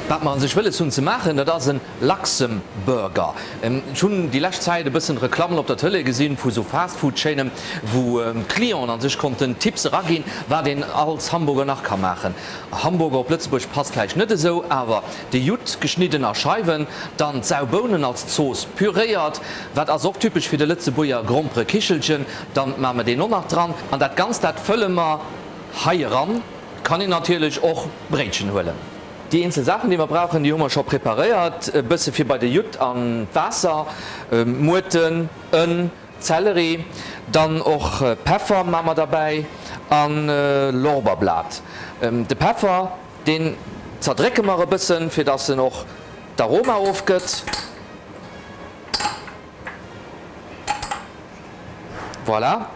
Wat mer an sech wëlles hunn ze maachen, dat ass e Luxemburger. Ech hunn déi lescht Zäit e bëssen Reklammen op der Tëlee gesinn vu sou Fast-Food-Chaînen, wou d'Clienten an sech konnten Tipps eraginn, wat een als Hamburger nach ka maachen. Hamburger op Lëtzebuerg passt vläicht net esou, awer De Judd geschnidden a Scheiwen, dann d'Sau Bounen als Zooss püréiert, wat ass och typesch fir de Lëtzebuerger, grompere Kichelchen, dann maache mer deen och nach dran an dat Ganzt dat fëlle mer hei eran. Kann een natierlech och Bréitchen huelen. Déi eenzel Saachen déi mer brauchen, déi hu mer scho preparéiert, e bësse fir bei de Judd an d'Waasser, Muerten, Ënn, Zelleri, dann och Peffer maache mer derbäi an Lorberblat. De Peffer. Deen zerdrécke mer e bëssen, fir dass en och d'Aroma ofgëtt. Voilà.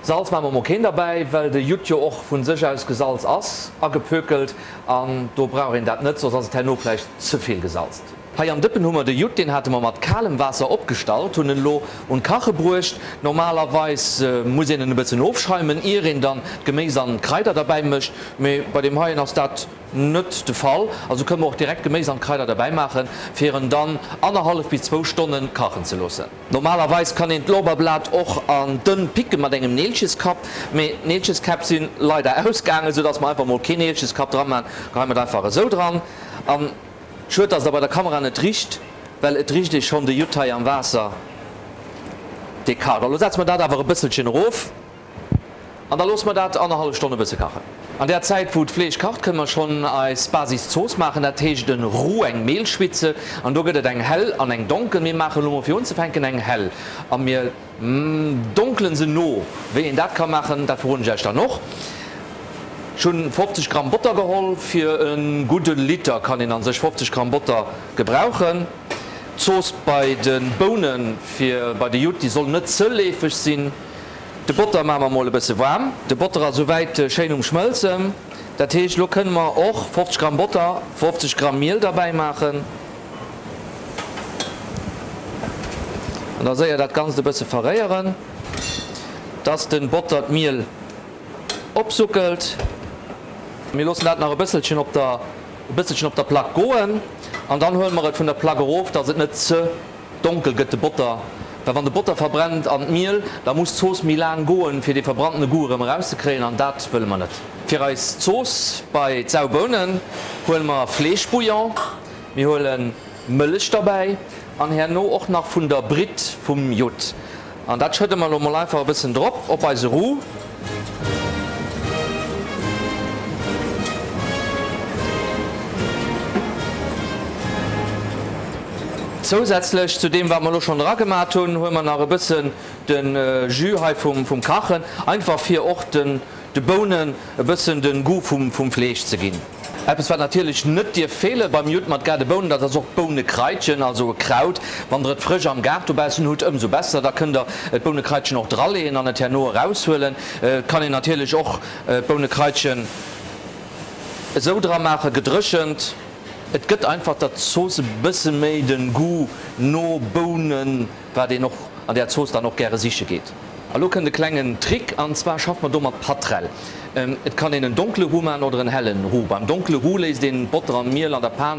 Salz maache mer mol keen derbäi, well de Judd jo och vu sech aus gesalz ass, agepökelt, an do brauch een dat net, soss ass et herno vläicht ze vill gesalzt. Hei am Dëppen hu mer de Judd, deen hate mer mat kalem Waasser opgestallt, hunn en elo un d'Kache bruecht. Normalerweis muss een en e bëssen ofschäumen, ier een dann d'Geméis an d'Kraider derbäi mécht, mee bei deem heien ass dat net de Fall. Also kënne mer och direkt d'Geméis an d'Kraider derbäi maachen, fir en dann annerhallef bis zwou Stonne kachen ze loossen. Normalerweis kann een d'Lorbeerblat och an dënn picke mat engem Neelcheskapp, mee Neelcheskäpp sinn leider ausgaangen, soudass mer einfach mol keen Neelcheskapp dran maan. Geheien mer et einfach esou dran. Schued dass der bei der Kamera net richt, well et richt ee schon de Judd hei am Waasser dee kacht. Lo setze mer dat awer e bësselchen erof an da loosse mer dat annerhallef Stonn e bësse kachen. An der Zäit wou d'Fleesch kacht kënne mer schon eis Basiszooss maachen, dat heescht en Roux, eng Mehlschwitze, an do gëtt et eng hell an eng donkel. Mir maachen lo mol fir unzefänken eng hell a mir. Donkelen se no. Wéi een dat ka maachen, dat verroden ech äech dann och. Ech hunn 50 Gramm Botter geholl. Fir e gudden Liter kann een an sech 50 Gramm Botter gebrauchen. D'Zooss bei den Bounen fir bei de Judd, déi soll net ze leefeg sinn. De Botter maache mer mol e bësse waarm. De Botter ass souwäit schéin um Schmëlzen. Dat heescht, elo kënne mer och 50 Gramm Botter, 50 Gramm Miel derbäi maachen. An da séier dat Ganzt e bësse verréieren, dass de Botter d'Miel opsuckelt. Mir loossen dat nach e bësselchen op der e bësselchen op der Plaque goen an dann huele mer et vun der Plaque erof, dass et net ze donkel gëtt, de Botter. Well wann de Botter verbrennt an d'Miel, da muss d'Zooss méi laang goen, fir dee verbrannene Goût erëm erauszekréien an dat wëlle mer net. Fir eis Zooss bei d'Saubounen huele mer Fleeschbouillon. Mir huelen Mëllech derbäi an herno och nach vun der Britt vum Judd. An dat schëdde mer lo mol einfach e bëssen drop op eise Roux. Zousätzlech zu deem wat mer lo schonn dra gemat hunn, huele mer nach e bëssen de Jus hei vum Kachen, einfach fir och de. De Bounen e bëssen den Goût vum vum Fleesch ze ginn. Eppes wat natierlech net dierf feelen beim Judd mat grade Bounen, dat ass och d'Bounekraitchen, also e Kraut. Wann der et frësch am Gaart dobaussen hutt, ëmsou besser, da kënnt der d'Bounekraitchen och draleeën an et herno eraushuelen. Et kann een natierlech och d'Bounekraitchen esou dra maachen, gedréchent. Et gëtt einfach der Zooss e bësse méi den Goût no Bounen. wat een och an där Zooss dann och gäre siche geet. A lo kënnt e klengen Trick, an zwar schafft mer do mat Patrell. Et kann een en donkele Roux maachen oder en hellen Roux. Beim donkele Roux léisst een Botter an Miel an der Pan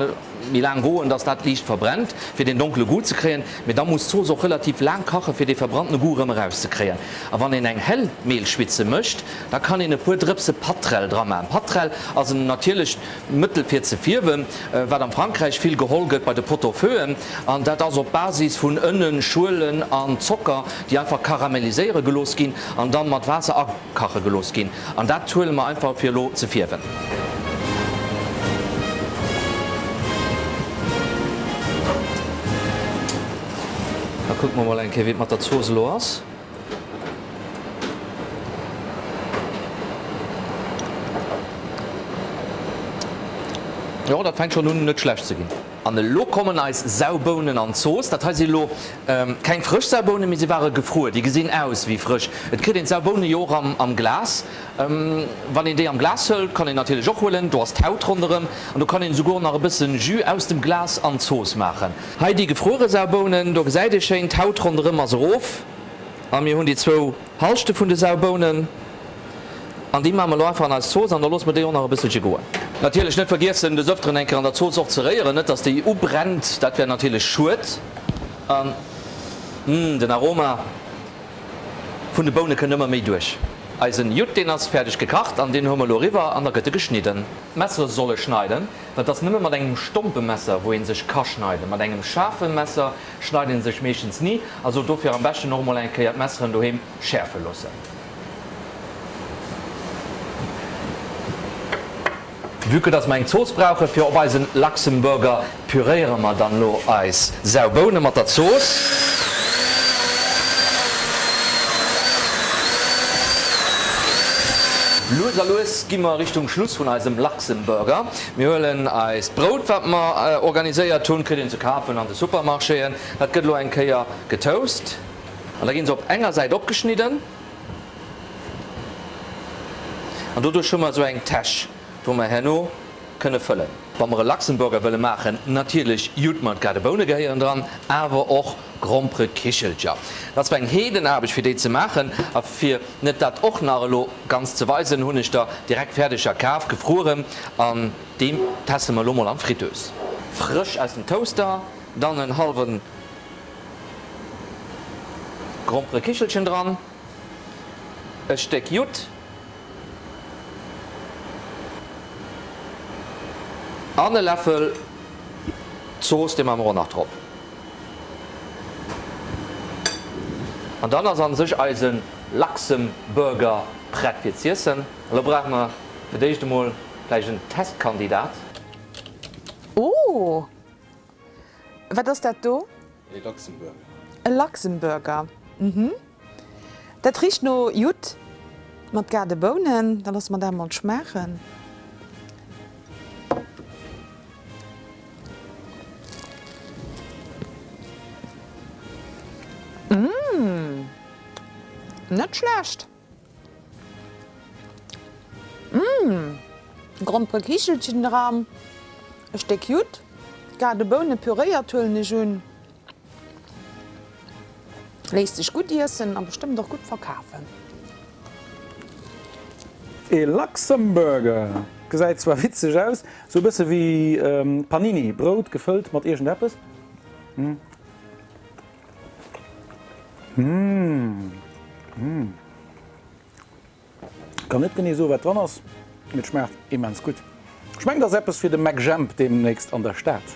méi laang goen, dass dat liicht verbrennt, fir deen donkele Goût ze kréien. Mee da muss d'Zooss och relativ laang kachen, fir dee verbrannten Goût erëm eraus ze kréien. A wann een eng hell Mehlschwitze mécht, da kann een e puer Drëpse Patrell dra maachen. Patrell ass en natierlecht. Mëttel fir ze fierwen, wat am Frankräich vill geholl gëtt bei de Pot-au-feuxen, an dat ass op Basis vun Ënnen, Schuelen an Zocker, déi einfach karamelliséiere gelooss ginn an dann mat Waasser akache gelooss ginn. An dat huele mer einfach fir elo ze fierwen. Da kucke mer mol eng Kéier wéi et mat der Zooss elo ass. Jo, dat fänkt schon un net schlecht ze ginn. An elo kommen eis Saubounen an d'Zooss. Dat hei si lo keng frësch Saubounen, mee si ware gefruer. Déi gesinn aus wéi frësch. Et kritt een d'Sauboune jo och am Glas. Wann een déi am Glas hëlt, kann een natierlech och huelen, do ass d'Haut ronderëm an do kann een esouguer nach e bësse Jus aus dem Glas an d'Zooss maachen. Hei déi gefruere Saubounen, do gesäit ee schéin d'Haut ronderëm ass erof. A mir hunn déi zwou Halschte vun de Saubounen an déi maache mer elo einfach an eis Zooss an da loosse mer déi och nach e bësselche goen. Natierlech net vergiessen des ëfteren eng Kéier an der Zooss och ze réieren, net dass déi ubrennt, dat wär natierlech schued. An uuhh den Aroma vun de Boune kënnt ëmmer méi duerch. Eisen Judd deen ass fäerdeg gekacht an deen hoe mer elo eriwwer an da gëtt e geschnidden. D'Messere solle schneiden, Dat ass nëmme mat engem stompe Messer wou een sech ka schneiden. Mat engem schaarfen Messer schneit een sech meeschtens ni, also dofir am beschten och mol eng Kéier d'Messeren doheem schäerfen loossen. Vue que dass mer eng Zooss brauchen fir op eisen Luxemburger, püréieren mer dann lo eis sau Bounen mat der Zooss. Lues a lues ginn mer Richtung Schluss vun eisem. Zum Burger, Mir huelen eist Brout, wat mer organiséiert hunn, kritt een ze kafen an de Supermarchéen. Dat gëtt elo eng Kéier getoast an da ginn se op enger Säit opgeschnidden an doduerch hu mer esou eng Täsch, wou mer herno kënne fëllen. Wa mer e Luxemburger wëlle maachen, natierlech jut mer et grad. Boune gehéieren dran, awer och Grompere Kichelcher, dat ass eng Heedenaarbecht fir déi ze maachen. A fir net dat och nach elo ganz ze weisen, hunn ech der direkt Fäerdeger kaf, gefrueren, an déi teste mer elo mol an d'Fritteuse. Frësch aus dem Toaster, dann en hallwe Grompere Kichelchen dran, e Stéck Judd an e Läffel Zooss, dee maache mer och nach drop. An dann ass an sech eisen Luxemburger prett fir z'iessen. Elo brauche mer fir d'éischt emol vläicht en Testkandidat. Oh! Wat ass dat do? E Luxemburger. E Luxemburger, mhm. Dat richt no Judd mat gaarde Bounen. Da losse mer dat emol schmaachen. Mmm, net schlecht. Mmm, Grompere Kichelchen dran, e Stéck Judd, gaarde Boune püréiert huelen ech un. Léisst sech gutt iessen a bestëmmt och gutt verkafen. E Luxemburger gesäit zwar witzeg aus, sou e bësse wéi Panini, Brout gefëllt mat iergend eppes. Mmm. Kann net genee soen wat dran ass, mee et schmaacht immens gutt. Ech mengen et ass eppes fir de MacJemp deemnächst an der Stad.